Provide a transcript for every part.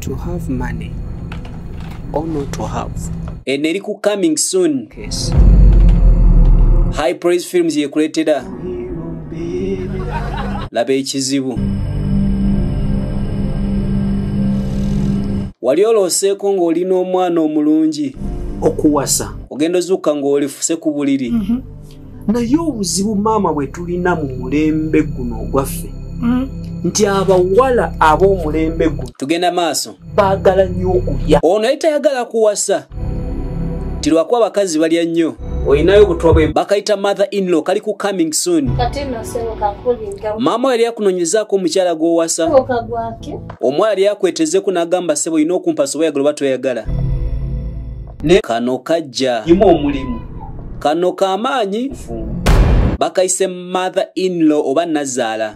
to have money or not to have eno eri ku coming soon case. high praise films yekuletera laba ekizibu wali olooseeko ng'oli n'omwana omulungi okuwasa ogenda ozuuka ng'olifuse ku buliri mm -hmm. naye obuzibu maama bwe tulina mu mulembe guno ogwaffe hmm? nti abawala ab'omulembe guno tugenda maaso baagala nnyo okulya ono ye tayagala kuwasa nti lwakuba abakazi balya nnyo olinayo obutwa bwe bakayita mother inlaw kali ku coming soon maama yali akunonyezaako omukyala gw'owasa omwala yali akwetezeko n'agamba sebo olina okumpasa oba yagala oba toyagala ne kano kajja imu omulimu kano kamaanyi bakayise mother inlaw oba nazaala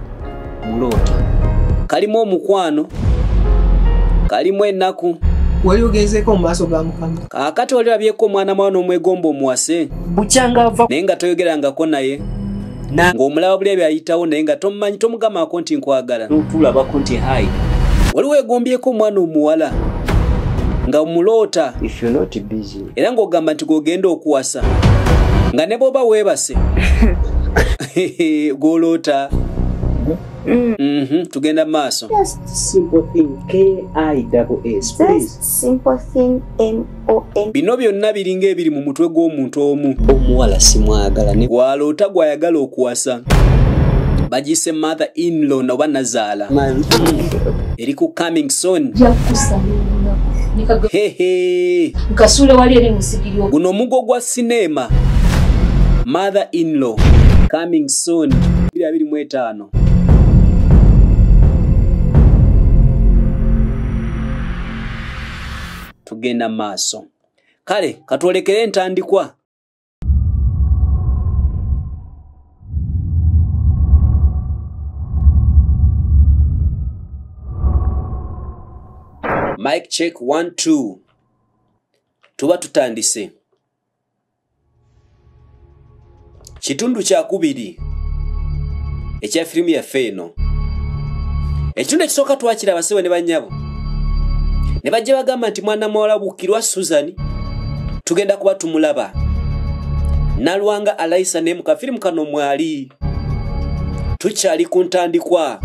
muloota kalimu omukwano kalimu ennaku wali ogenzeeko mu maaso ga mukama kaakati wali olabyeko omwana mwana omwegomba omuwase bukyanga ava naye nga toyogerangako naye ng'omulaba buli ebyo ayitawo naye nga tomumanyi tomugamako nti nkwagala notulabako nti hai wali wegombyeko omwana omuwala nga muloota era ng'ogamba nti gwogenda okuwasa nga ne bwoba weebase gwoloota Mm. Mm -hmm. tugenda maaso bino byonna biringa ebiri mu mutwe gw'omuntu omu omuwala simwagala gwaloota gwayagala okuwasa bagise mother inlaw noba nazaala eri ku coming soni guno omugo gwa sineema mother inlaw coming soon 25 tugenda maaso kale katwolekere entandikwa mike check 12 tuba tutandise kitundu kyakubiri ekya firimu yaffe eno ekitundu ekisooka twakira abasebo ne bannyabo ne bajja bagamba nti mwana muwala bukirwa susan tugenda kuba tumulaba nalwanga alaisa ne mukafirimu kano mwali tukyali ku ntandikwa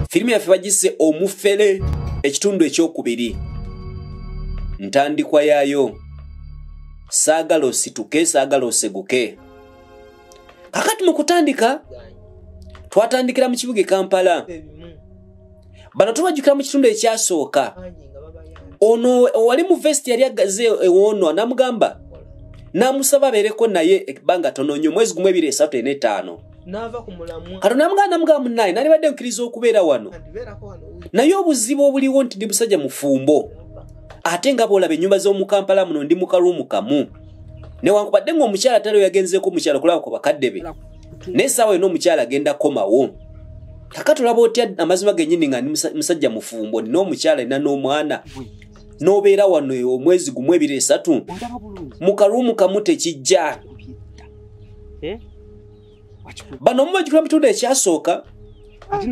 firimu yaffe bagise omufere ekitundu ekyokubiri ntandikwa yaayo saagala osituke saagala oseguke kakati mu kutandika twatandikira mu kibuga e kampala bano tubajjukira mu kitundu ekyasooka ono owali mu vesti yali agaze ewoonwa namugamba namusaba abeereko naye ebbanga tono nyo omwezi gumu ebiri esatu ena etaano kati namugamba namugamba munaye nalibadde nkiriza okubeera wano naye obuzibu obuliwo nti ndi musajja mufumbo ate nga boolaba ennyumba z'omukampala muno ndi mukalwomu kamu newankubadde ngaomukyala tali oyagenzeeko omukyala okulaba ku bakadde be naye saawa yona omukyala agenda komawo kakati olaba otya amazima genyini nga musajja mufumbo olina omukyala ina n'omwana nobeera wano e, omwezi gumu ebiri esatu mukalumu kamu tekijja eh? bano mubajukira mu kitundu ekyasooka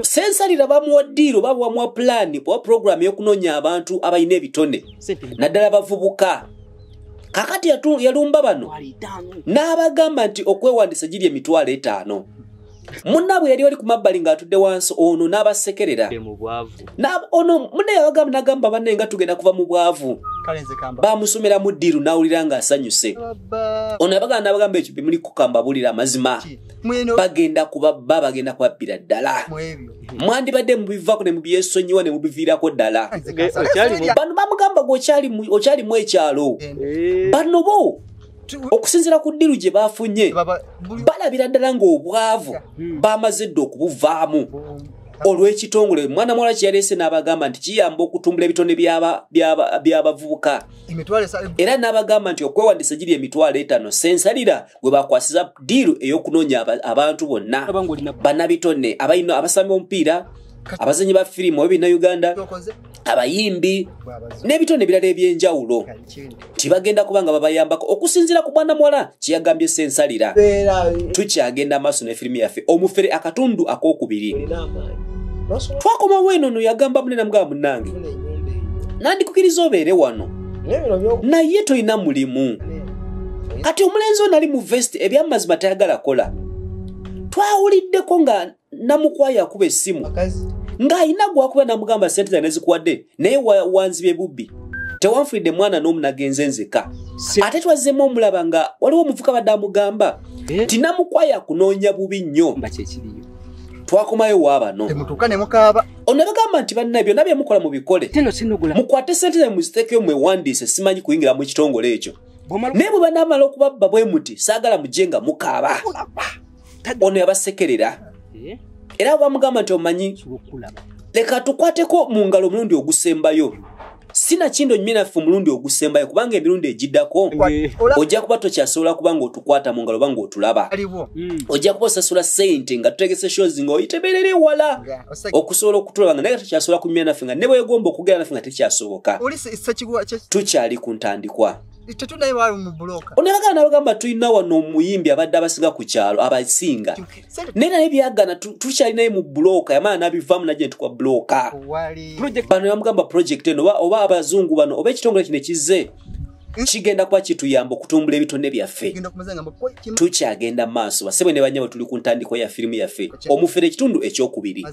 sensalira bamuwa diiro oba bamuwa pulaani oba puroguramu y'okunoonya abantu abalina ebitone naddala bavubuka kakati yalumba bano n'abagamba nti okwewandisa giri emitwalo etaano munnaabwe yali oli ku mabbali ng'atudde wansi ono n'abasekerera ono mune yabagamba nagamba banne nga tugenda kuva mu bwavu bamusomera mu ddiiru n'awulira ng'asanyuse ono yabagamba nabagamba ekyo bimuli kukamba bulira amazima bagenda kubabba bagenda kubabbira ddala mwandibadde mubivako ne mubyesonyiwa ne mubiviirako ddala bano bamugamba gwe okyalimu ekyalo eh. bano bo okusinzira ku ddiru gye bafunye balabira ddala ng'obwavu hmm. bamaze dda okubuvaamu olw'ekitongole mwana muwala kye yaleese n'abagamba nti kiyamba okutumbula ebitone by'abavubuka era n'abagamba nti okwewandiisa giri emitwalo etaano sensalira gwe bakwasiza diiru ey'okunoonya abantu bonna banabitone abalina abasami b'omupiira abazanyi ba firimu oyo bina uganda abayimbi n'ebitone ebirala ebyenjawulo nti bagenda kuba nga babayambako okusinziira ku bwana muwala kyeyagambye sensalira tukyagenda amaaso ne firimu yaffe omufere akatundu akokubiri twakomawo eno no yagamba munene mugaba munange nandikukiriza obeere wano naye tolina mulimu kati omulenzi onali mu vesti ebyamazima tayagala kola twawuliddeko nga namukwaya akuba esimu ng'alina gwakuba namugamba sente zane zikuwadde naye wanziba ebubbi tewanfulidde mwana n'omu nagenze nzeka ate twazzemu omulaba nga waliwo omuvuka badde amugamba eh? ti namukwaya kunoonya bubi nnyo twakomayo wabano onabagamba nti banna byonna byemukola mubikole mukwate sente zae muzitekeyo mwewandiise simanyi kuyingira mu kitongole ekyo naye bwe banamala okubabba bwe muti saagala mujje nga mukaaba ono yabasekerera eh? era bamugamba nti omanyi leka tukwateko mu ngalo omulundi ogusembayo sinakindo nnyo naffe omulundi ogusembayo kubanga emirundi egiddako ojja kuba tokyasobola kuba nga otukwata mu ngalo banga otulaba hmm. ojja kuba osasula sente nga tutegese shows nga oyiteberera ewala okusobola okutulaba nga naye nga tokyasobola kunyumya naffe nga ne bwegomba okugera naffe nga tekyasoboka tukyali ku ntandikwa tetudaye bali mu buloka oneraga nabagamba tulina wano omuyimbi abadde abasinga ku kyalo abasinga naye naye byagana tukyalinaye mu buloka yamala nabivamu naje ntukwa buloka bano yamugamba project eno oba abazungu bano oba ekitongole kino ekizze kigenda kuba kituyamba okutumbula ebitone byaffe tukyagenda maaso basebwe ne banyabo tuli ku ntandiko ya firimu yaffe omufere ekitundu ekyokubiri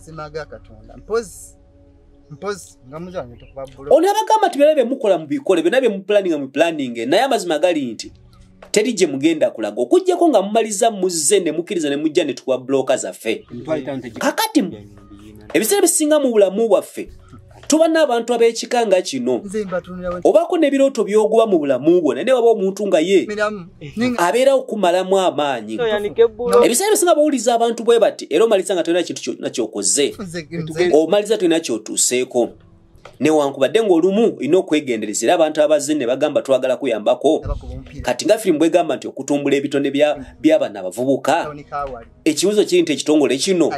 ono abagamba nti byona byemukola mubikole byona byemupulaninga mupulaninge naye amazima gali nti teri gye mugenda kulaga okujjako nga mumaliza muzze ne mukkiriza ne mujja ne tuwa bulooka zaffe kakati ebiseera bisinga mu bulamu bwaffe tuba n'abantu ab'ekika nga kino obaako n'ebirooto byoguba mu bulamu bwo naye ne waba omuntu nga ye abeerawo kumalamu amaanyi ebiseera bisinga bawuliriza abantu bwe bati era omaliza nga tolina kintu kyonna kyokoze omaliza tolina kyotuuseeko newankubadde ngaolumu olina okwegendereza era abantu abazze ne bagamba twagala kuyambako kati nga firimu bwegamba nti okutumbula ebitone by'abana abavubuka ekibuzo kiri nti ekitongole kino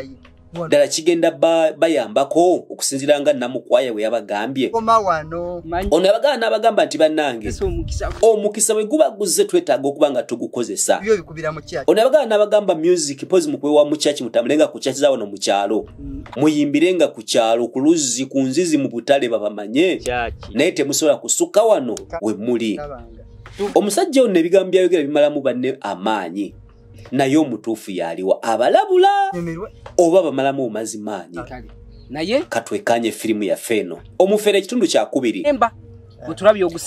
ddala kigenda bayambako okusinzira nga namukwaya bwe yabagambye ono yabagamba n'abagamba nti bannange omukisa bwe guba guzze twetaaga okuba nga tugukozesa ono yabagamba n'abagamba music pozi mukuwewa mu kyaki mutambule nga ku kyaki zawano mu kyalo mm. muyimbire nga ku kyalo ku luzzi ku nzizi mu butale babamanye naye temusobola kusukka wano we muli omusajja ono ebigambo byayogera bimalamu banne amaanyi naye omutuufu yaliwa abalabula oba bamalamu omazi maanyi naye katwekanye firimu yaffe eno omufere ekitundu kyakubiri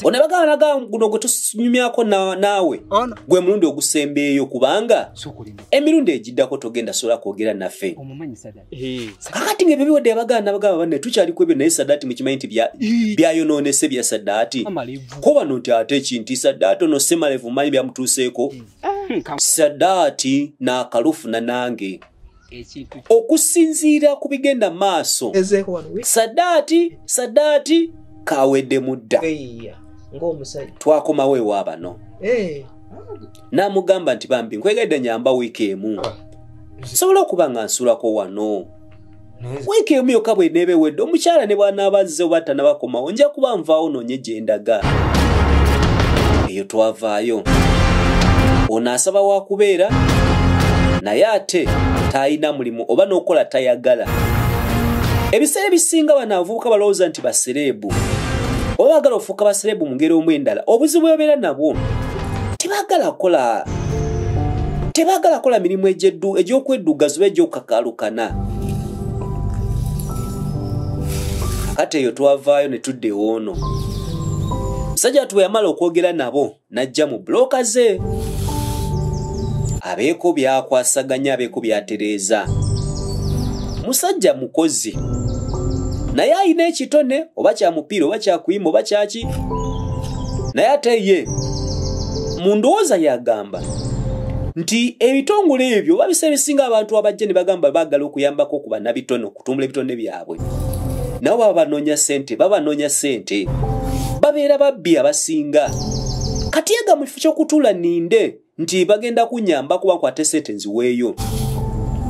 onabaganaguno gwe tunyumyako naawe gwe mulundi ogusembeeyo kubanga emirundi egiddako togenda sobola kwogera naffe kakati nga ebyo biwadde abagana nabagaba banne tukyali ku ebyo naye sadaati mukimanyi nti byayonoonese bya sadaati ko bano nti ate ekinti sadaati ono semalevu manyi byamutuuseeko hmm, sadaati n'akalufuna nange okusinziira ku bigenda maaso sadaati sadaati kawedde mudda twakomawo ewa bano eh. n'amugamba nti bambi nkwegedde nyamba wiiki emu ah. nsobola okuba nga nsulako wano wiiki emu yokka bweneeba ewedde omukyala ne bwanaaba azze oba tanabakomawo nja kuba nvaawo noonye gye ndaga eyo twavaayo ono asaba wa kubeera naye ate taalina mulimu oba n'okukola tayagala ebiseera ebisinga bano abavubuka balowooza nti basereebu oba baagala ofuuka basereebu mu ngeri omu endala obuzibu bwebabeera nabwo tebagala kola tebagala kola mirimu egy'okweddugaza oba egy'okuka galukana kati eyo twavaayo ne tudda ewoono musajja watu bwe yamala okwogera nabo n'ajja mu bulooka ze abeeko byakwasaganya abeeko byatereeza musajja mukozi naye alina ekitone oba kya mupiira oba kyakuyima oba kyaki naye ate ye mu ndowooza yagamba nti ebitongole ebyo babisa ebisinga abantu abajja ne bagamba baagala okuyambako okuba nabitono okutumbula ebitonde byabwe nabo baba banoonya sente baba banoonya sente babeera babbi abasinga kati ega mu kifo ky'okutuula ninde nti bagenda kunyamba kuba nkwate sente nziweeyo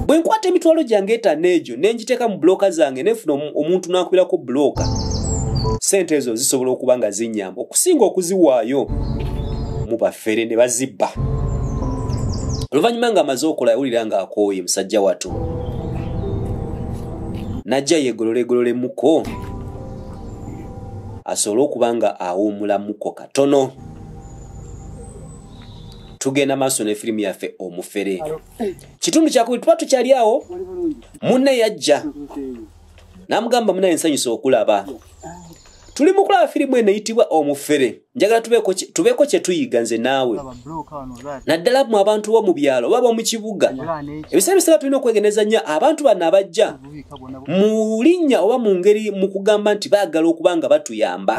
bwe nkwata emitwalo gyange etano egyo nenjiteeka mu bulooka zange nefuna omuntu nankubirako bulooka sente ezo zisobola okuba nga zinyamba okusinga okuziwaayo mu bafere ne bazibba oluvannyuma nga amaze okola yawulira nga akooye musajja watu najja yegololegololemuko asobole okuba nga awuumulamuko katono tugenda maaso ne firimu yaffe omufere kitundu kyakubiri tuba tukyali awo munne yajja namugamba munaye nsanyusa okulaba tuli mu kulaba firimu eno eyitibwa omufere njagala tubeeko kyetuyiga nze naawe naddala mu abantu bo mu byalo oba bomu kibuga ebiseera biseera tulina okwegeneza nnyo abantu bano abajja mu linnya oba mu ngeri mu kugamba nti baagala okuba nga batuyamba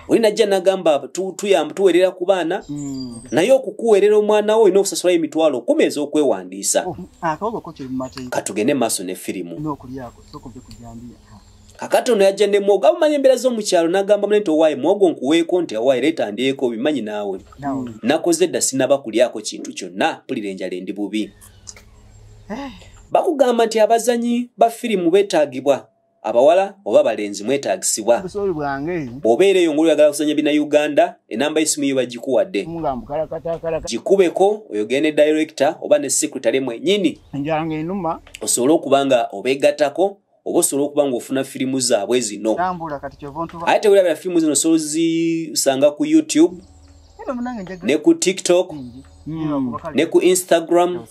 oli najja nagamba tu- tuyamba tuweerera ku baana Mm. naye okukuweerera omwana wo olina okusasulayo emitwalo kumi ez'okwewandiisa Oh, akawogo ko kiri mu mateeka katugende mu maaso ne firimu olina okulyako soka ove ku jambiya kakati ono yajja ne mwogo abamanyi embeera z'omu kyalo n'agamba mune nti owaaye mwogo nkuweeko nti owaaye leeta ndyeko obimanyi naawe nawe nakoze dda sinaba kulyako kintu kyonna mpulira enjala endi bubi bakugamba nti abazanyi ba firimu beetaagibwa abawala oba abalenzi mwetaagisibwa bw'obeera eyo ngulu oyagala kuzanya bina uganda enamba y'essimu yo bagikuwadde gikubeko oyogere ne director oba ne secretary mwenyini osobole okuba nga obeegattako oba osobola okuba ngaofuna firimu zaabwe zino ate tewulabira firimu zino osobola zisanga ku youtube ne ku tiktok hmm. ne ku instagram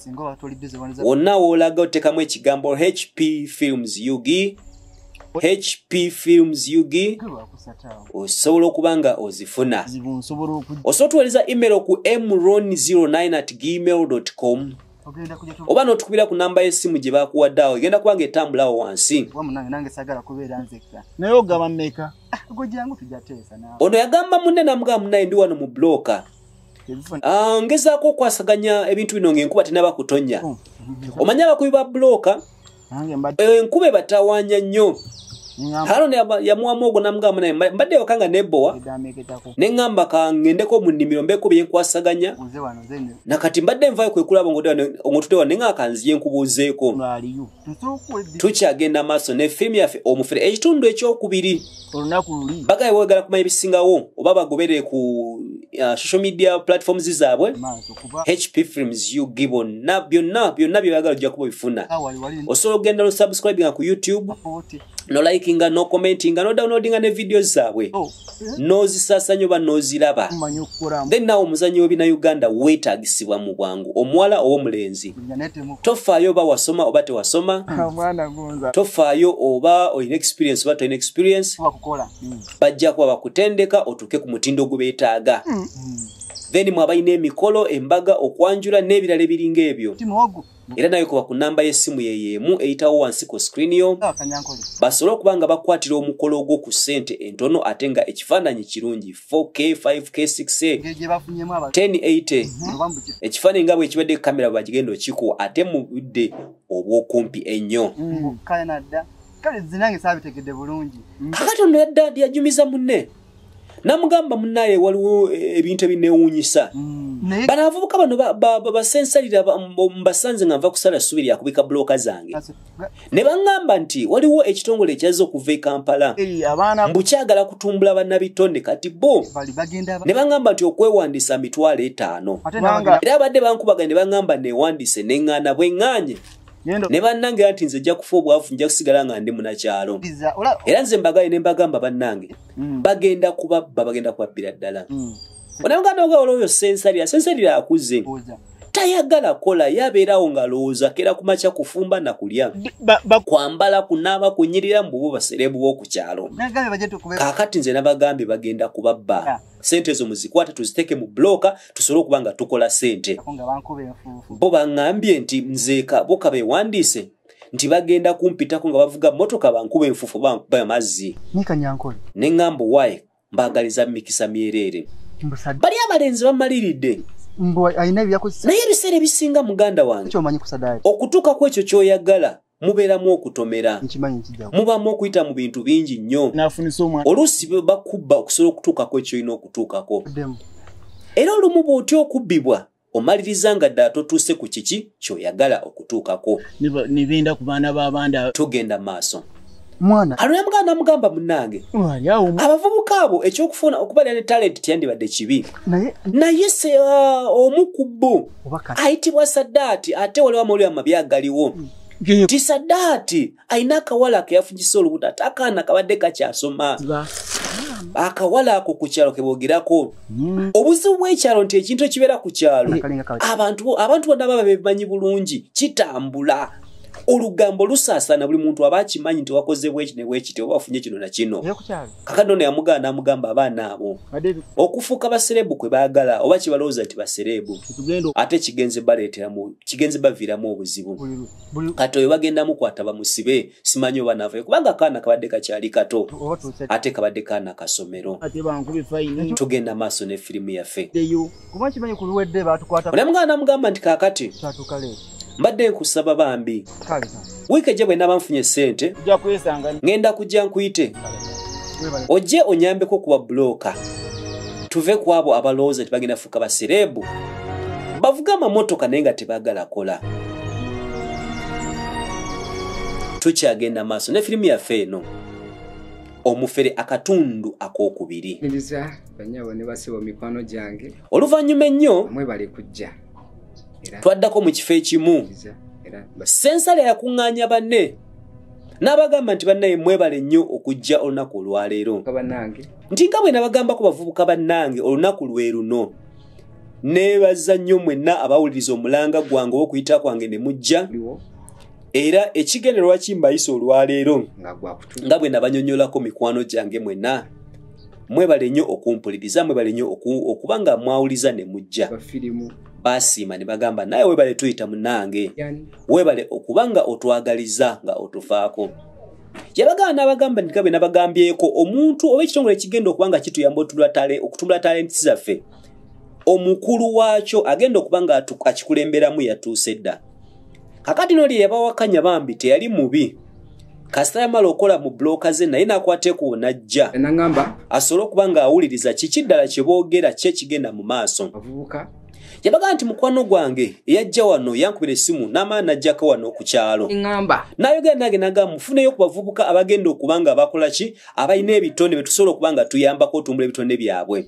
wonna woolaga otekamu ekigambo hp films ug hp films ug osobola okuba nga ozifuna osobola otuwereza email ku mron 09 at gmail com oba notukubira ku namba yesimu gye bakuwadde awo egenda kuba nga etambulawo wansi naye ogaba meka ono yagamba munne namugamba munaye ndi wano mu bloka ah, ngezaako okwasaganya ebintu bino ngaenkuba tenaba kutonya oh, omanye abakubi ba bloka eh, enkuba ebatawanya nnyo haroni yamuwamu ogwo namugamba naye mbadde yoka nga nebowa neŋamba kangendeko mu nnimiro mbeeko byenkwasaganya nakati mbadde nvayo kwekulaba ongotudewa neŋakanziye nkubuuzeeko tukyagenda maaso ne fiimu yaffe omufere ekitundu ekyokubiri olunaku luli bagaye wegala kumanya ebisingawo oba bagoberere ku uh, social media platforms zaabwe hp films u gibon na byonna byonna byebayagala ojja kuba obifuna osobola okugenda lusubscribinga ku youtube no likinga no commentinga no downloadinga ne video zaabwe oh, eh? nozisasanyo ba noziraba then nawe omuzanyo webina uganda wetagisibwa mu bwangu omuwala owomulenzi tofaayo oba wasoma oba tewasoma ah, tofaayo oba olina experience oba tolina experience hmm. bajja kuba bakutendeka otuuke ku mutindo ogubetaaga hmm. then mwe abalina emikolo embaga okwanjula n'ebirala ebiringa ebyo era nawe kuba ku namba y'essimu yeyo emu eyitawo wansi ku screen yo basobole okuba nga bakwatira omukolo ogwo ku ssente entono ate nga ekifaananyi kirungi 4k 5k 6k 1080 ekifaananyi nga bwekibadde kamera bwebagigenda okikuwa ate mu budde obwokumpi ennyo mm. kale zinange sabitegedde bulungi kakati ono yadda yajumiza munne namugamba munaye waliwo eh, ebintu ebinewunyisa mm. bano abavubuka bano basensalira mbasanze nga nva kusala subi lyakubika buloka zange ne baŋŋamba nti waliwo ekitongole ekyazza okuva e kampala mbu kyagala kutumbula bannabitone kati bo ne baŋŋamba nti okwewandiisa mitwalo etaano era abadde bankubaganye ne baŋŋamba newandiise neŋŋaana bweŋŋanye ne bannange anti nze nja kufa obwavu nja kusigala nga ndi munakyalo era nze mbagaye ne mbagamba bannange mm. bagenda kubabba bagenda kubabbira ddala mm. onamuganda oga olwoyo sensalira sensalira akuze tayagala kola yabeerawo ngalowooza kera kumakya kufumba nakulya kwambala kunaaba kunyirira mububu baserebuwo ku kyalo kakati nze nabagambye bagenda kubabba sente ezo muzikwate tuziteeke mu blooka tusobole okuba nga tukola sente bo baŋŋambye nti nzeeka boka beewandiise nti bagenda kumpitako nga bavuga mmotoka bankuba enfufu bamazzi ne ŋŋambo wayi mbaagaliza mikisa myereere bali abalenzi bamaliridde naye ebiseera ebisinga muganda wange okutuuka ku ekyo ky'oyagala mubeeramu okutomera mubaamu okuyita mu bintu bingi nnyo oluusi bakubba okusobola okutuukako ekyolina okutuukako era olumu bw'otya okubbibwa omaliriza nga ddala totuuse ku kiki ky'oyagala okutuukako nebenda ku baana b'abandi tugenda maaso mwana alina muganda namugamba munange abavubuka abo ekyokufuna okubalira ne talenti tyandibadde kibi naye naye se uh, omu ku bo ayitibwa sadaati ate waliwo amawulire amabi agaliwo mm. nti sadaati alina akawala keyafunyisa olubuto ate akaana kabadde kakyasoma akawala ako ku kyalo kebogerako mm. obuzibu bw'ekyalo nti ekintu ekibeera ku kyalo abantu bona baba bemanyi bulungi kitambula olugambo lusaasana buli muntu aba akimanyi nti wakozebwa eki nebwekiti oba wafunye kino na kino kakati ono yamugaana namugamba abaana abo okufuuka basereebu kwe baagala oba kibalowooza nti basereebu ate kigenze baleeteramu kigenze baviiramu obuzibu kati oyo bagenda mukwata bamusibe simanyi oba navayo kubanga akaana kabadde kakyali kato ate kabadde kaana kasomero tugenda maaso ne firimu yaffe kuba nkimanyi ku luwedde baatukwata naye muganda namugamba nti kaakati kyatuuka leeti mbadde nkusaba bambi wiiki ejja bwe naba nfunye ssente ŋenda kujja nkuyite ojje onyambeko okuba bulooka tuve ku abo abalowooza nti bagenda fuuka basereebu bavuga amamotoka naye nga tebagala kola tukyagenda maaso ne firimu yaffe eno omufere akatundu ak'okubiri banyabo ne basibo mikwano gyange oluvannyuma ennyo mwebale kujja twaddako mu kifo ekimu sensale yakuŋŋaanya banne n'abagamba nti bannaye mwebale nnyo okujja olunaku olwaleero nti nga bwe nabagambako bavubuka bannange olunaku lwe luno neebaza nnyo mwenna abawuliriza omulanga gwange ow'okuyita kwange ne mujja era ekigendererwa kimbayisa olwaleero nga bwe nabanyonyolako mikwano gyange mwenna mwebale nnyo okumpuliriza mwebale nnyo okuba nga mwawuliza ne mujja basiima ne bagamba naye webale tuyita munange webale okuba nga otwagaliza nga otufaako yabagamba n'abagamba nti gabe nabagambyeko omuntu oba ekitongole ekigenda okuba nga kituyamba okutumbula talenti zaffe omukulu waakyo agenda okuba nga akikulemberamu yatuuse dda kakati no lye yabawakanya bambi teyali mubi kasita yamala okola mu bloka ze naye nakwateko najja enangamba asobole okuba nga awuliriza kiki ddala kye boogera ki ekigenda mu maaso avubuka yabaga nti mukwano gwange eyajja wano yankubira essimu n'amaana najjaka wano ku kyalo ŋŋamba n'ayogera nange nagamba mufuneyo ku bavubuka abagenda okuba nga bakola ki abalina ebitonde betusobola okuba nga tuyambako otumbula ebitonde byabwe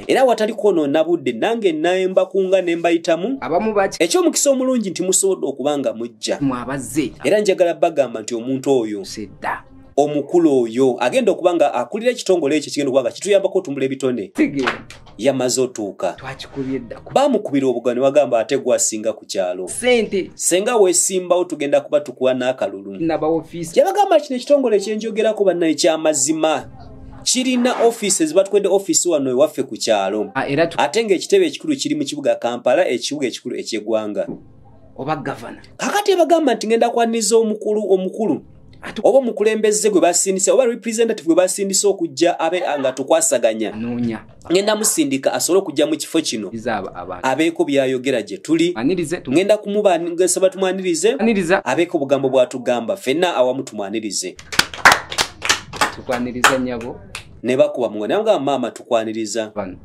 era watali kwonoona budde nange nayemba kunga ne mbayitamu ekyomukisa omulungi nti musobodde okuba nga mujja era njagala bagamba nti omuntu oyo omukulu oyo agenda okuba nga akulira ekitongole ekyo kigenda okuba nga kituyambako otumbula ebitone yamaze otuuka bamukubira obuga ne wagamba ate gwasinga ku kyalo senga wesimbawo tugenda kuba tukuwa n'akalulu yabagamba kino ekitongole ekyenjogerako banna ekyamazima kirina ofiisi ezibatwede ofiisi wano ewaffe ku kyalo ah, ate ng'ekitebe ekikulu kiri mu kibuga kampala ekibuga ekikulu eky'eggwanga oba gavana kakati ebagamba nti ngenda kwaniza omukulu omukulu ati oba omukulembeze gwe basindisa oba representative gwe basindisa okujja abe nga tukwasaganya nonya ngenda musindika asobole okujja mu kifo kino abeeko byayogera gye tuli ngenda kumubansaba tumwanirize abeeko obugambo bwatugamba fenna awamu tumwanirize tukwaniriza nyabo ne bakuba muganda nga maama tukwaniriza Bana.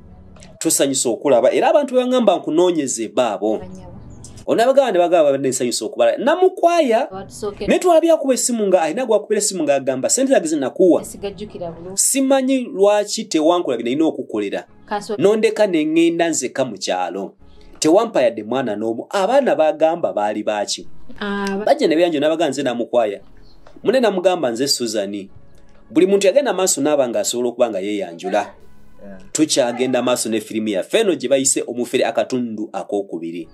tusanyusa okulaba era abantu bebagamba nkunoonyeze baabo onabagaba ne bagaba babadde nsanyusa okubala namukwaya naye twalabye akuba essimu nga alina gwakubira essimu nga agamba sente zage zinakuwa simanyi lwaki tewankola binalina okukolera nondeka nengenda nzeka mu kyalo tewampa yadde mwana n'omu abaana bagamba baali baaki ah, bajja ne beyanjo nabaga nze namukwaya mune namugamba nze suzani buli muntu yagenda maaso naaba nga asobola okuba nga yeyanjula tukyagenda maaso ne firimu yaffe eno gye bayise omufere akatundu ak'okubiri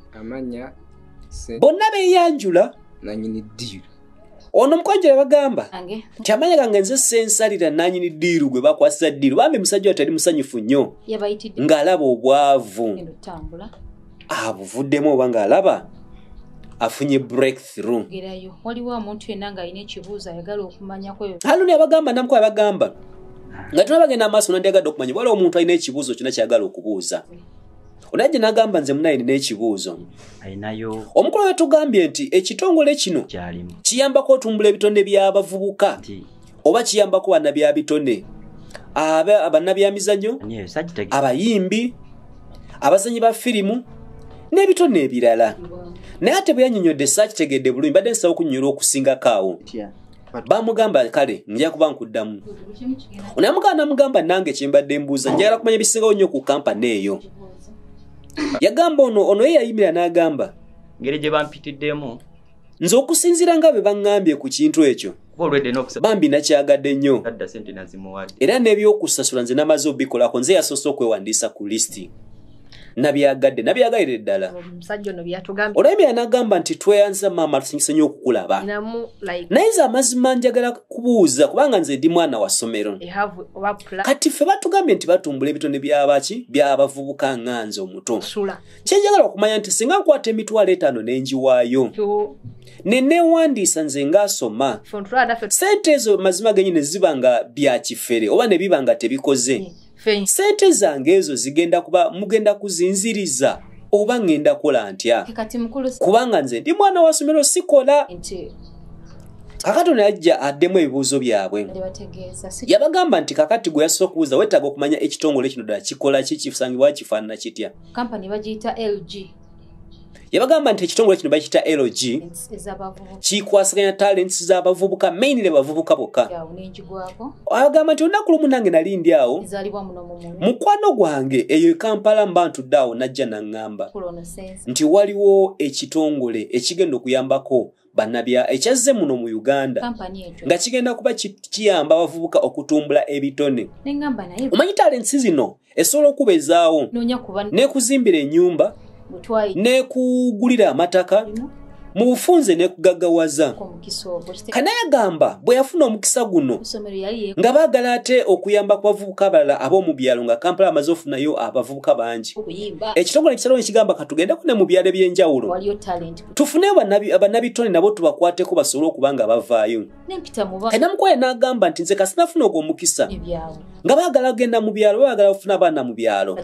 bonna beyanjula nanyini diiru ono omukwajja yabagamba kyamanya gange nze sensalira nanyini diiru gwe bakwasiza diiru bambi musajja watali musanyufu nnyo ng'alaba obwavu abuvuddemu oba ng'alaba afunye breakthrough waliwo omuntu yenna ng'alina ekibuuzo ayagala okumanyako haluni abagamba namuko abagamba nga tuna bagenda amaaso nandyagadde okumanya waliwo omuntu alina ekibuuzo kyona kyagala okubuuza onajje nagamba nze munaye nina ekibuuzo omukolo yatugambye nti ekitongole kino kiyambako otumbula ebitone byabavubuka oba kiyambako bana bya bitone abanabyamizanyo abayimbi abazanyi ba firimu n'ebitone ebirala naye ate bwe yanyonyodde saakitegedde bulungi mbadde nsaba okunyonyolwa okusingako awo bamugamba kale nja kuba nkuddamu onamugamba namugamba nange kyembadde mbuuza njagala kumanya bisingawo nnyo ku kampani eyo yagamba ono ono ye yayimira n'agamba ngeri gye bampitiddemu nze okusinziira nga bwe baŋŋambye ku kintu ekyo bambi nakyagadde nnyo era n'ebyokusasula nze namaze obikolako nze yasoose okwewandiisa ku lisiti nabyagadde nabyagalire ddala olabye byanagamba nti tweyanza maama tusinyise nyo okukulaba naye nze amazima njagala kubuuza kubanga nze ndi mwana wa ssomero kati ffe batugambye nti batumbula ebitone byabaki byabavubuka nga nze omuto kyenjagala okumanya nti singa nkwata emitwalo etaano nenjiwaayo nenewandiisa nze ngaasoma sente ezo mazima genyini ziba nga byakifere oba nebiba nga tebikoze yeah. sente zange ezo zigenda kuba mugenda kuzinziriza oba ŋŋenda kola ntya kubanga nze ndi mwana wa somero sikola kakati ono yajja addemu ebibuuzo byabwe yabagamba nti kakati gwe yasobola okubuuza weetaaga okumanya ekitongole kino ddala kikola ki kisangibwa kifaanana kitya yabagamba nti ekitongole kino bakiyita lg kikwasaganya talents zabavubuka mainly bavubuka bokka agamba nti olunaku lumu nange nali ndi awo mukwano gwange eyo ekampala mba ntudde awo najja naŋŋamba nti waliwo ekitongole ekigenda okuyambako banabya ekyazze muno mu uganda nga kigenda kuba kiyamba abavubuka okutumbula ebitone omanyi talensi zino esobola okubezaawo nekuzimbira enyumba nekugulira amataka mu bufunze nekugaggawaza kanayagamba bwe yafuna omukisa guno nga baagala ate okuyamba ku bavubuka abalala ab'omu byalo nga kampala amaze ofunayo abavubuka bangi ekitongole ekisalawo nekigamba katugendeko ne mu byalo eby'enjawulo tufune abanabitone nabo tubakwateko basobole okuba nga bavaayo enamukwaya n'agamba nti nze kasinafuna ogwo omukisa nga baagala genda mu byalo baagala bafuna abaana mu byalo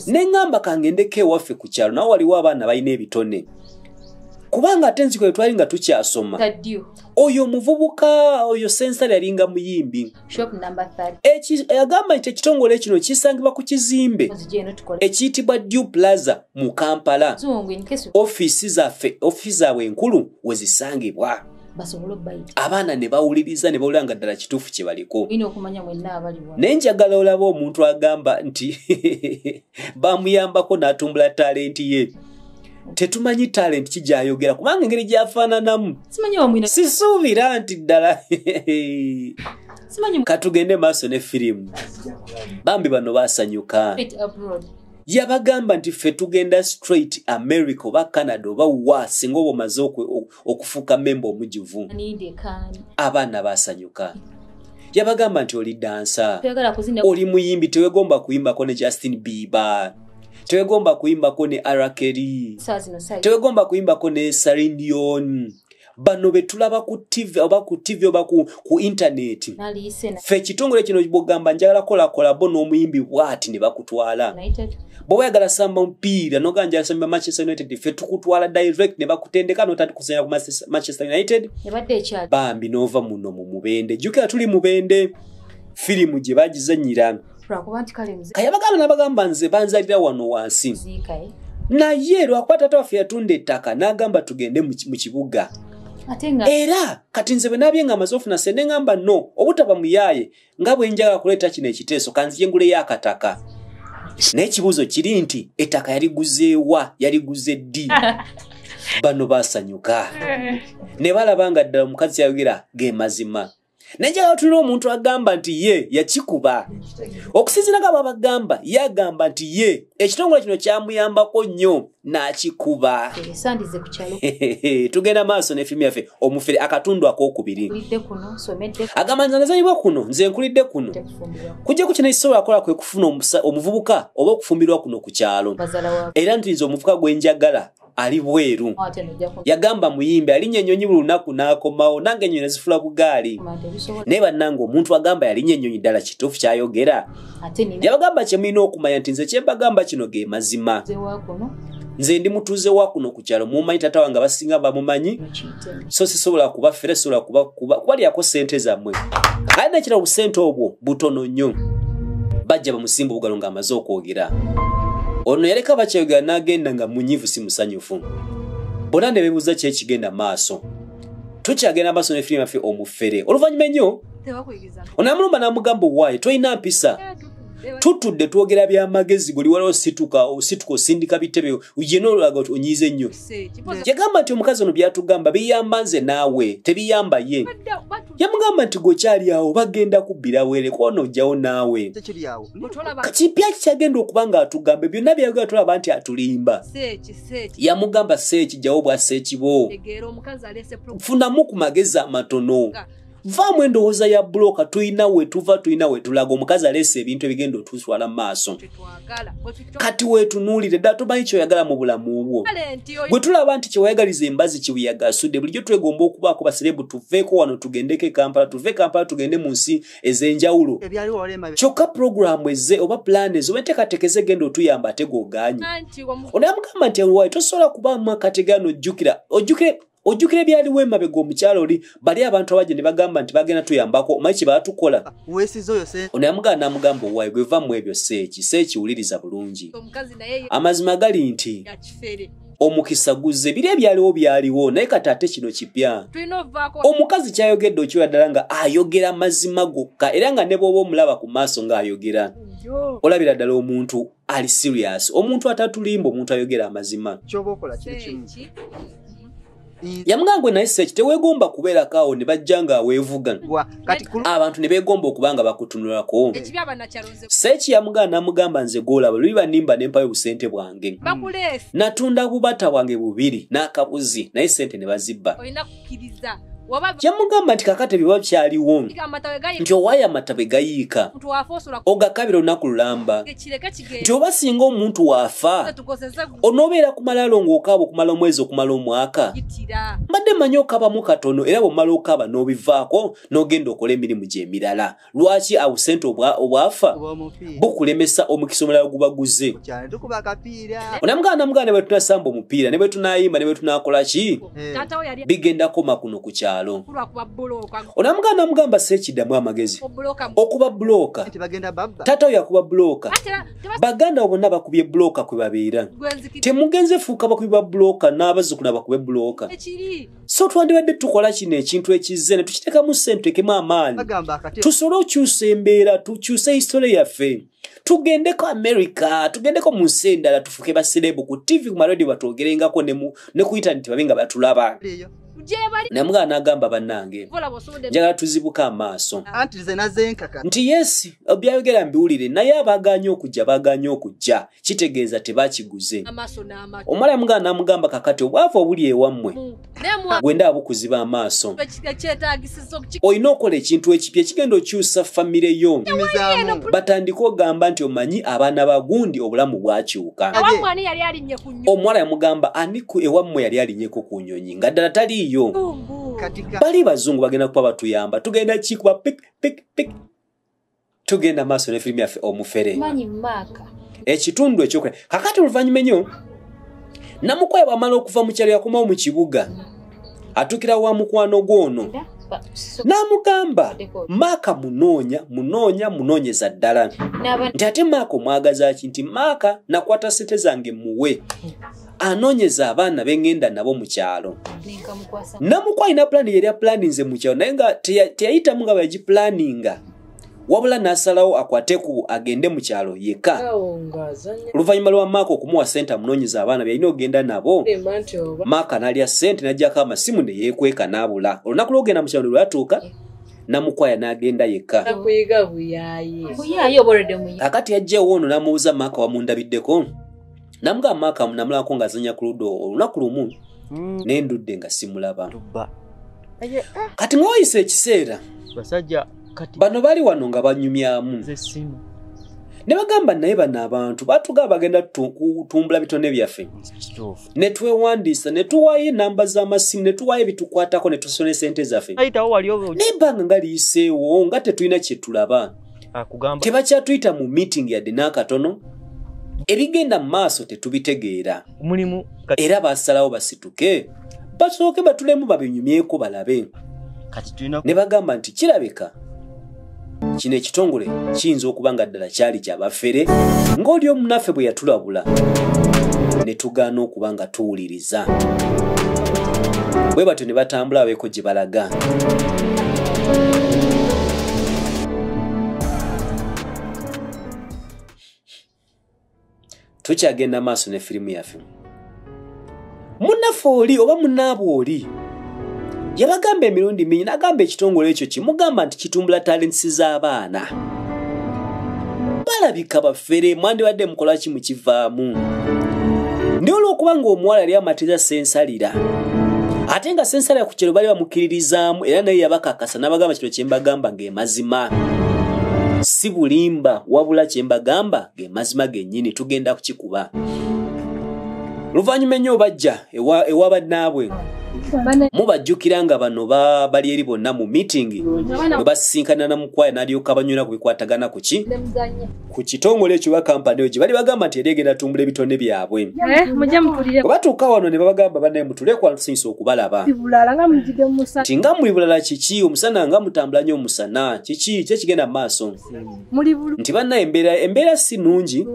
neŋŋamba kangendeko ewaffe ku kyalo nawe waliwo abaana balina ebitone kubanga ate nziko etwali nga tukyasoma oyo omuvubuka oyo sensale yalinga muyimbi shop number 30 Eki- agamba nti ekitongole kino kisangibwa ku kizimbe Muzije eno tukole ekiyitibwa dew plaza mu kampala zungu in case ofiisi zaffe ofiisi zaabwe enkulu we zisangibwa basobole okubayita abaana ne bawuliriza ne bawulira nga ddala kituufu kye baliko olina okumanya mwenna abali wa naye njagala olaba omuntu agamba nti bamuyambako n'atumbula talenti ye tetumanyi talent kigyayogera kubanga engeri gyafaananamu sisuubira nti ddala katugende maaso ne firimu bambi bano basanyuka yabagamba nti ffe tugenda straight america oba canada oba wa singa oba omaze okufuuka memba omujuvu abaana basanyuka yabagamba nti oli dansa oli muyimbi tewegomba kuyimbako ne justin bieber tewegomba kuyimbako ne arakeri tewegomba kuyimbako ne sarindion bano betulaba ku tv oba ku tv oba ku, ku intaneti fe ekitongole kino bwogamba njagala kolakolabo n'omuyimbi bwati ne bakutwala bwoba oyagala samba mupiira noganjala samba manchester united fe tukutwala direct ne bakutendeka notati kusenya ku manchester united bambi nova muno mu mubende jukira tuli mubende firimu gye bagizanyira kayabagamba nabagamba nze banzalira wano wansi eh? naye lwakuba tata waffe yatunda ettaka nagamba tugende mu kibuga era kati nze bwenabye nga amaze ofuna sente ngamba no obutaba muyaaye nga bwe njaga okuleeta kino ekiteeso kanzije nguleyo akataka naye ekibuuzo kiri nti ettaka yaliguzeewa yaliguze ddi bano basanyuka ne balaba nga ddala omukazi yayogera ge mazima naye njagala tulina omuntu agamba nti ye yakikuba okusinzira nga babagamba yagamba nti ye ekitongole kino kyamuyambako nnyo nakikuba esandize ku kyalo tugenda maaso ne firimu yaffe omufere akatundu akokubiri agamba nze nazanyibwa kuno nze nkulidde kuno kujja ku kino ekisobola akola kwe kufuna omuvubuka oba okufumbirwa kuno ku kyalo era nti nze omuvubuka gwe njagala ali bweru ah, yagamba muyimbi alinya enyonyi buli lunaku n'akomawo nange enyonyi nazifula bugaali naye bannange omuntu agamba yalinya enyonyi ddala kituufu kyayogera yabagamba kyemulina okumanya nti nze kyembagamba kino ge mazima nze ndi mutuuze wa kuno ku kyalo mumanyi tata wange abasinga bamumanyi so sisobola kubafere sisobola kubalyako sente zammwe ali nekira obusente obwo butono nnyo bajja bamusimba obugalo nga amaze okwogera ono yaleka bakyayogera n'agenda nga munyivu si musanyufu bona ne bebuuza kyekigenda maaso tukyagenda maaso ne firimu yaffe omufere oluvannyuma ennyo onamulumba namugamba owaaye tolina mpisa tutudde twogera byamagezi buli waliwo situka osituka osindika bitebe yena olulaga ti onyiiza ennyo yagamba nti omukazi ono byatugamba biyamba nze naawe tebiyamba ye yamugamba nti gwekyali awo bagenda kubbira were kwona ojjawo naawe kati byaki kyagenda okuba nga atugambe byonna byayogera tulaba nti atulimba yamugamba seeki jjawo bwa seekibo funamu ku magezi amatono vaamu endowooza ya bulooka tulina wetuva tulina wetulaga omukazi aleesa ebintu ebigenda otuswala maaso kati wetunuulire ddala tomanyi kyoyagala mu bulamu bwo gwe tulaba nti kyewayagaliza embazi kibuyagasudde bulijjo twegomba okubaako baserebu tuveeko wano tugendeko ekampala tuve ekampala tugende mu nsi ez'enjawulo kyokka pulogulaamu eze oba pulaani eze oba enteekateeka ezegenda otuyamba ate goganye onamugamba nti awaye tosobola kubaamu akategaano ojjukira ojjukire ojjukira ebyaliwo emabega omukyalo oli bali abantu abaje ne bagamba nti bagenda tuyambako omanyi kye baatukola ono yamugana n'amugamba owaayi gwe va mu ebyo seeki seeki wuliriza bulungi amazima gali nti omukisa guzze biri ebyaliwo byaliwo naye kati ate kino kipya omukazi kyayogedde okyola ddala nga ayogera mazima gokka era nga ne bwoba omulaba ku maaso ng'ayogera olabira ddala omuntu ali serious omuntu atatulimba omuntu ayogera amazima kyoba okola kiri kimu yamugamba gwe naye seki tewegomba kubeerako awo ne bajja nga aweevuga abantu ne beegomba okuba nga bakutunulako seki yamugamba namugamba nze goolaba luli banimba nempayo obusente bwange natunda bubata bwange bubiri n'akabuzi naye sente ne bazibba kiriza kyemugamba nti kakati bye bakyaliwo nti owaayo amata bwe gayiika ogakabira olunaku lulamba nti oba singa omuntu waafa onoobeera ku malaalo ng'okaaba okumala omwezi okumala omwaka mbadde manyi okabamu katono era bwemala okaaba n'obivaako n'ogenda okola emirimu gy'emirala lwaki abusente obwafa bukulemesa omukisa omulala gubaguze onamugana namugana nebwetunasamba omupiira nebwetunayimba nebwetunakolaki eh. bigenda koma kuno ku kyalo onamugana namugamba sekidamu amagezi okuba buloka tata oyo akuba buloka baganda bo bonna bakubye buloka kwebabeera temugenze fuuka bakubi ba buloka n'abazukuna bakube buloka so twandibadde tukola kino ekintu ekizze ne tukiteekamu ssente tuteekemu amaanyi tusobole okyusa embeera tukyuse hisitole yaffe tugendeko amerika tugendeko mu nsi endala tufuuke baserebu ku ttivi ku maradio batwogerengako ne ku intaneti babe nga batulaba naye mugala n'agamba bannange njagala tuzibuke amaaso nti yesi byayogera mbiwulire naye abaganye okujja baganye okujja kitegeeza tebakiguze omwala yamugamba namugamba kakati obwavu obuli ewammwe gwenda abukuziba amaaso olina okola ekintu ekipya ekigenda okyusa famire yo batandika ogamba nti omanyi abaana bagundi obulamu bwakyuka omuwala yamugamba ani ewammwe yali alinyeko ku nyonyi nga ddala taliiyo bali bazungu bagenda kuba batuyamba tugenda kikuba pik pik pik tugenda maaso ne firimu yaffe omufere ekitundu ekyokwe kakati oluvannyuma enyo namukwaya bwamala okuva mu kyalo yakomawo mu kibuga atukira wa mukwano gwono n'amugamba maaka munoonya munoonya munoonyeza ddala nti ate maaka omwagazaki nti maaka nakwata sente zange muwe anonyeza abaana bengenda nabo mukyalo namuku alina pulani yali apulaninze mukyalo naye nga teyayitamu nga bweyagipulaninga wabula n'asalawo akwate ku agende mu kyalo yekka oluvannyuma lwa maaka okumuwa ssente amunoonyeza abaana byalina okugenda nabo maaka n'alya ssente n'ajjako amasimu ne yeekweka n'abula olunaku lwogenda mu kyalo ne lwatuuka eh. namukwaya n'agenda yekka akati yajjawo ono n'amubuuza maaka wamundabiddeko namugamba maaka namulabako nga azanya ku ludo olunaku lumu mm. ne ndudde nga simulaba ah. kati ngaoyisa ekiseera bano bali wano nga banyumyamu ne bagamba naye bano abantu batugaa bagenda kutumbula bitone byaffe ne twewandiisa ne tuwaayo enamba z'amasimu ne tuwaayo ebitukwatako ne tusona esente zaffe naye banga nga liyiseewo nga tetulina kye tulaba akugamba tebakyatuyita mu meeting yadde n'akatono ebigenda mu maaso tetubitegeera mulimu era basalawo basituke basooke batulemu babinyumyeko balabe ne bagamba nti kirabika kino ekitongole kiyinza okuba nga ddala kyali kyabafere ng'oli omunaffe bwe yatulabula ne tugaana okuba nga tuwuliri bw'onoonyereza. Bwe batyo ne batambula babeeko gye balaga. Tukyagenda maaso ne firimu yaffe. Munnaffe oli oba munnaabwe oli? yabagamba emirundi mingi n'agamba ekitongole ekyo kimugamba nti kitumbula talentisi z'abaana balabika bafere mwandibadde mukola ki mukivaamu naye olw'okuba ng'omuwala yali amatiza sensalira ate nga sensalira ku kyero bali bamukkiririzaamu era naye yabakakasa n'abagamba kino kye mbagamba ng'emazima si bulimba wabula kye mbagamba ng'emazima gennyini tugenda kukikuba luvannyuma ennyo obajja ewa bannaabwe mubajjukira nga bano bali eri bonna mu miitingi bwe basisinkanira na mukwaya n'alyoka banywera ku bikwatagana ku ki ku kitongole ekyo ba kampani oyo gye bali bagamba nti eri egenda tumbula ebitone byabwe eh, bwe batuuka wano ne babagamba banaye mutulekwa tusanyusa okubalaba nti nga muli bulala kiki omusana nga mutambula nnyo omusana kiki ki ekigenda mu maaso nti banaye embeera si nnungi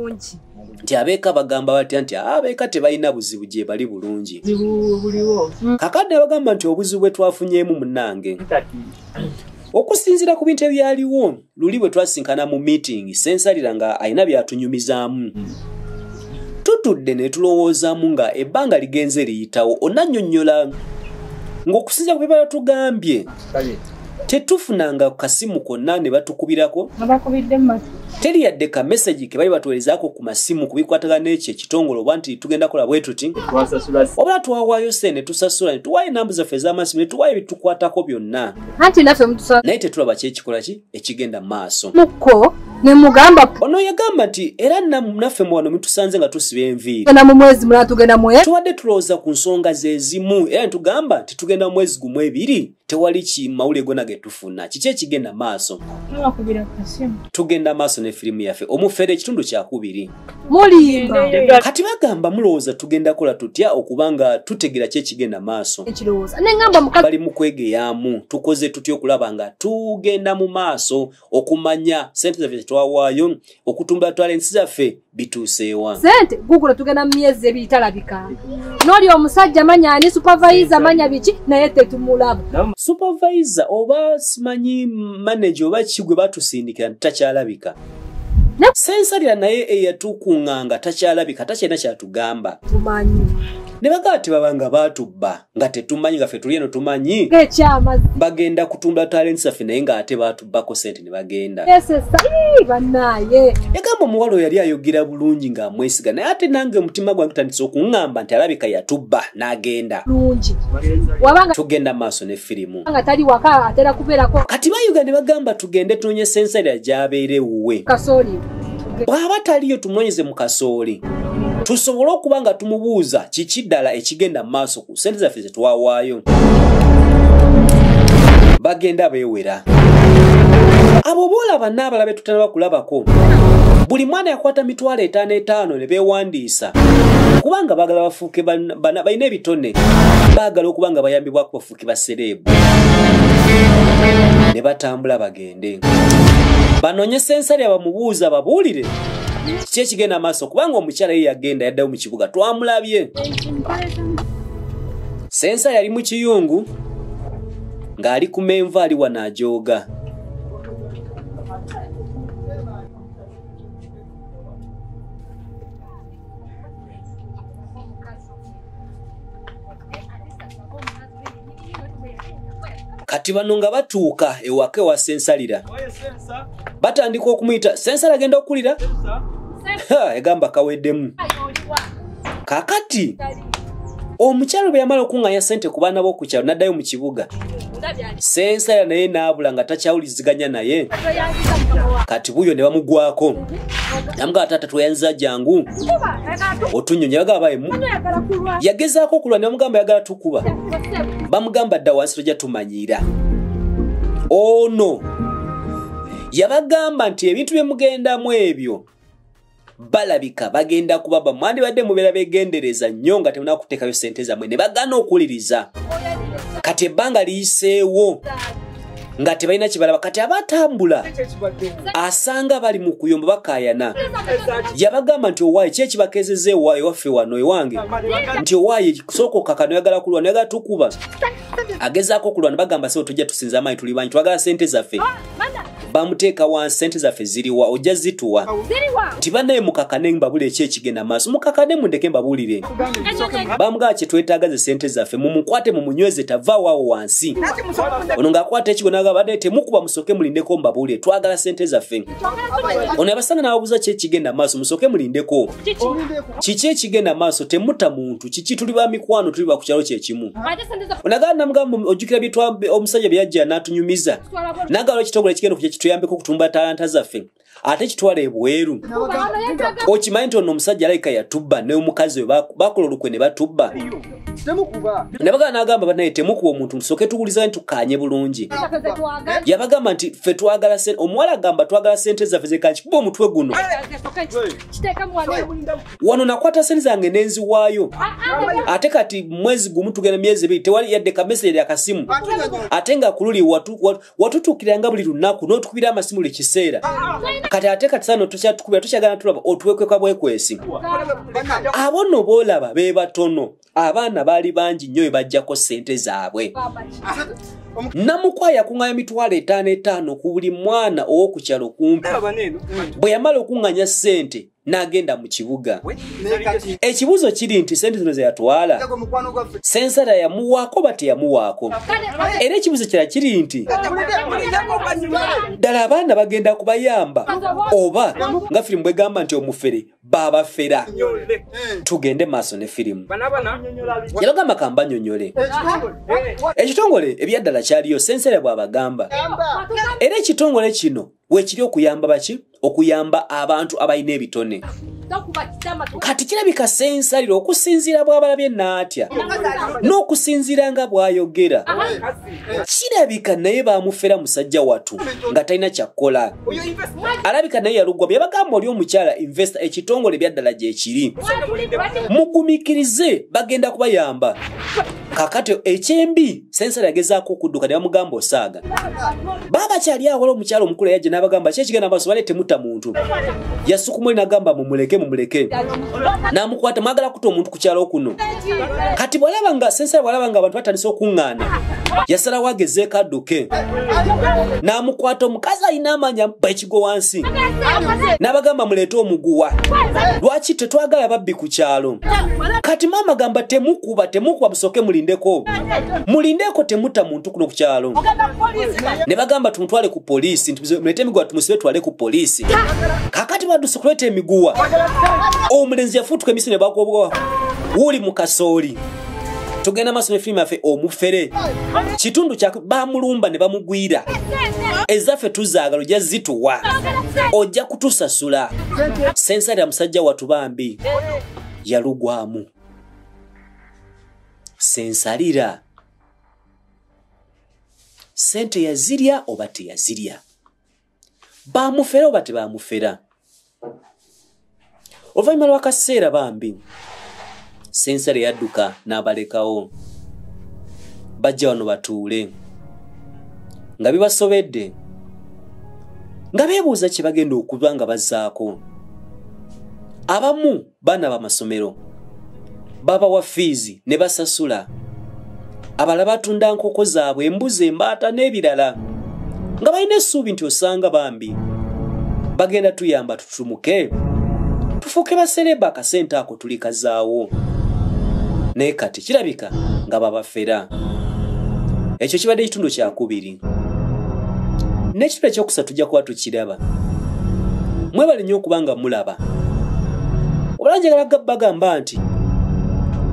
nti abeeka bagamba batya nti ah, abeeka tebalina buzibu gye bali bulungi kakadde abagamba nti obuzibu bwe twafunyeemu munange okusinziira ku bintu ebyaliwo luli bwe twasinkana mu miitingi sensalira nga alina byatunyumizaamu tutudde ne tulowoozaamu nga ebbanga ligenze liyitawo onannyonnyola ng'okusinziira ku bye balatugambye tetufunangako kasimu konna ne batukubirako teri yadde ka mesagi ke bali batuwerezaako ku masimu ku bikwatagana n'ekyo ekitongole oba nti tugenda kola bwe tuti obala twawaayo se ne tusasula ne tuwaayo enambu zaffe ez'amasimu ne tuwaayo ebitukwatako byonna naye tetulaba kyekikola ki ekigenda maaso muko nemugamba ono yagamba nti era naffe muwano mutusanze nga tusiba enviirina mu mwezi mulala tugenda mwe tubadde tulowooza ku nsonga zezimu era netugamba nti tugenda mu mwezi gumu ebiri tewali kimawule gona getufuna kiki ekigenda maaso tugenda maaso ne firimu yaffe omufere ekitundu kyakubiri mulimba kati bagamba mulowooza tugenda kola tutya okuba nga tutegera ki ekigenda maaso bali mu kwegeyaamu tukoze tutya okulaba nga tugenda mu maaso okumanya sente zaffe tetwawaayo okutumbula twala ensi zaffe bituuseewa sente gugula tugenda mu myezi ebiri talabika noli omusajja manya ani supavayiza manya biki naye tetumulaba supavayiza oba simanyi manaje oba kigwe batusindikira takyalabika sensabira naye eyatukuŋŋanga takyalabika takyalina kyatugamba ne bagamba tebabanga baatubba nga tetumanyi nga fe tuli eno tumanyi bagenda kutunda talenti zaffe naye ng'ate baatubbako sente ne bagenda yagamba omuwala oyo yali ayogera bulungi ng'amwesiga naye ate nange omutima gwange gutandise okuŋŋamba nti alabika yatubba n'agenda tugenda maaso ne firimu nga tali waka atera kubeerako kati bayuga ne bagamba tugende tunonye senseri agyabeera ewuwe kasooli bw'aba taliyo tumunonyeze mu kasooli tusobole okuba nga tumubuuza kiki ddala ekigenda mu maaso ku sente zaffe ze twawaayo bagenda beewera abo boolaba n'abala be tutanaba kulabako buli mwana yakwata mitwalo etaano etaano ne beewandiisa kubanga baagala bafuuke balina ebitone baagala okuba nga bayambibwakubafu ki basereebu ne batambula bagende banoonye sensale abamubuuza babuulire kiki ekigenda maaso kubanga omukyala ye yagenda yaddayo mu kibuga twamulabye sensa yali mu kiyungu ng'ali ku menva ali wano ajooga kati bano nga batuuka ewaka ewa sensalira batandika okumuyita sensala agenda okukulira egamba kaweddemu kakati omukyalo bwe yamala okuŋŋanya ssente ku baana b'okukyalo n'addayo mu kibuga sensala naye naabula nga takyawuliziganya naye kati buyo ne bamugwako namugaa taata tweyanziza jangu otunyonya bagabaemu yagezaako okulwa ne bamugamba yagala tukuba bamugamba dda wansi tojja tumanyiira ono yabagamba nti ebintu byemugendamu ebyo balabika bagenda kubaba mwandibadde mubeera begendereza nnyo nga temuna kuteekayo sente zammwe ne bagana okuwuliriza kati ebbanga liyiseewo nga tebalina kibalaba kati abatambula asanga bali mu kuyomba bakayana yabagamba nti owaayi ki ekibakezeza ewa ewaffe wano ewange nti owaayi sooka okaka noyagala kulwa noyagala tukuba agezaako okulwana bagamba sebo tujja tusinza amaanyi tuli banyi twagala sente zaffe bamuteeka wa sente zaffe ziriwa ojja zituwa nti banaye mukakane mbabuli eki ekigenda maaso mukakane mundeke mbabuulire bamugaa kyetwetaaga ze sente zaffe mumukwate mumunyweze tavawaawo wansi ono ngaakwata ekigo nagabade temukuba musoke mulindeko mbabuulire twagala sente zaffe ono abasanga nababuuza ki ekigenda maaso musoke mulindeko kiki ekigenda maaso temuta muntu kiki tuli ba mikwano tuli bakukyalo kyekimu onagaa namugamba ojjukira omusajja byeyajja natunyumiza nagala ekitongole ekigenda okuja kituyambeko okutumba talanta zaffe ate kitwala ebweru okimanyi nti ono omusajja alayika yatubba neomukazi we bakola olukwe ne batubba nabagala nagamba banaye temukuba omuntu musoke tuwuliza nti tukanye bulungi yabagamba nti fe twagala omuwala agamba twagala sente zaffe zekakikuba omutwe guno wano nakwata sente zange nenziwaayo ate kati mwezi gumu tugenda myezi ebiri tewali yadde kamesere lya kasimu ate nga kululi watutuukiranga buli lunaku n'otukubira amasimu buli kiseera kati ate kati sano tukyatukubira tukyagala tulaba otuwekweka bwekwesi abo no boolaba be batono abaana baali bangi nnyo bebajjako sente zaabwe namukwaya kuŋŋanya mitwalo etaano etaano ku buli mwana ow'okukyalo kumpi bwe yamala okuŋŋanya sente n'agenda mu kibuga ekibuuzo kiri nti sente zino zeyatwala sensara yamuwaako oba teyamuwaako era ekibuuzo kira kiri nti ddala abaana bagenda kubayamba oba nga firimu bwegamba nti omufere babafera tugende maaso ne firimu yalogamba kambanyonyole ekitongole ebyaddala kyaliyo sensera bwabagamba era ekitongole kino wekiri okuyamba baki okuyamba abantu abalina ebitone kati kirabika sensaliro okusinziira bwabalabye naatya n'okusinziira nga bwayogera kirabika naye bamufera musajja watu nga talina kyakkola alabika naye yalugwa byebagamba oli omukyala investa ekitongole byaddala gyekiri mugumikirize bagenda kubayamba kakati ekyembi sensala yagezaako okudduka ne bamugamba osaaga baaba kyali awola omukyalo omukulu yajja n'abagamba ki ekigenda maaso bale temutta muntu yasukumu oli nagamba mumuleke mumuleke n'amukwata mwagala kuta omuntu ku kyalo kuno kati bwalaba nga sensala bwalaba nga abantu batandise okuŋŋaana yasalawo agezeeko adduke n'amukwata omukazi alina amanya go wansi n'abagamba muleete omuguwa lwaki tetwagala babbi ku kyalo kati maama gamba temukuba temukuba busooke mulindeko mulindeeko temuta muntu kuno ku kyalo ne bagamba tumutwale ku poliisi nti mulete emiguwa tumusibe twale ku poliisi kakati baduse kuleeta emiguwa omulenzi yafuutuka emisi ne bagobwa wuuli mu kasooli tugenda maaso ne firimu yaffe omufere kitundu kya bamulumba ne bamugwira ezaffe tuzaagala ojja zituwa ojja kutusasula sensari ya musajja watu bambi yalugwamu sensalira sente yazirya oba teyazirya bamufera oba tebamufera oluvannyuma lwakaseera bambi sensale yadduka n'abalekawo bajja wano batuule nga bibasobedde nga beebuuza kye bagenda okuba nga bazaako abamu baana bamasomero babawa fiizi ne basasula abala batunda nkoko zaabwe embuzi embaata n'ebirala nga balina essuubi nti osanga bambi bagenda tuyamba tututumuke tufuuke basereeba akasente ako tuli kazaawo naye kati kirabika nga babafera ekyo kibadde ekitundu kyakubiri n'ekitula ekyokusatu tujja kuba tukiraba mwebale nnyo okuba nga mulaba obala njagala bagamba nti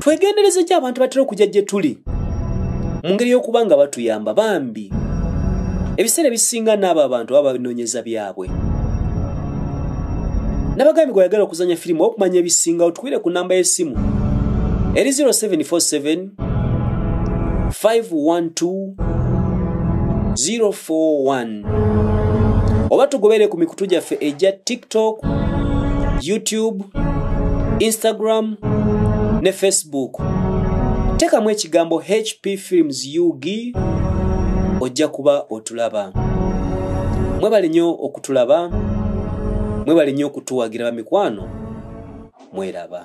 twegendereza eki abantu batera okujja gye tuli mu ngeri y'okuba nga batuyamba bambi ebiseera ebisinga n'abo abantu baba babinoonyeza byabwe nabagambye gweyagala okuzanya firimu okumanya ebisingawo tukwire ku namba y'essimu eri 0747 512041 oba tugobere ku mikutu gyaffe egya tiktok youtube instagram ne facebook tekamu ekigambo hp films ug ojja kuba otulaba mwebale nnyo okutulaba mwebale nnyo okutuwagira bamikwano mweraba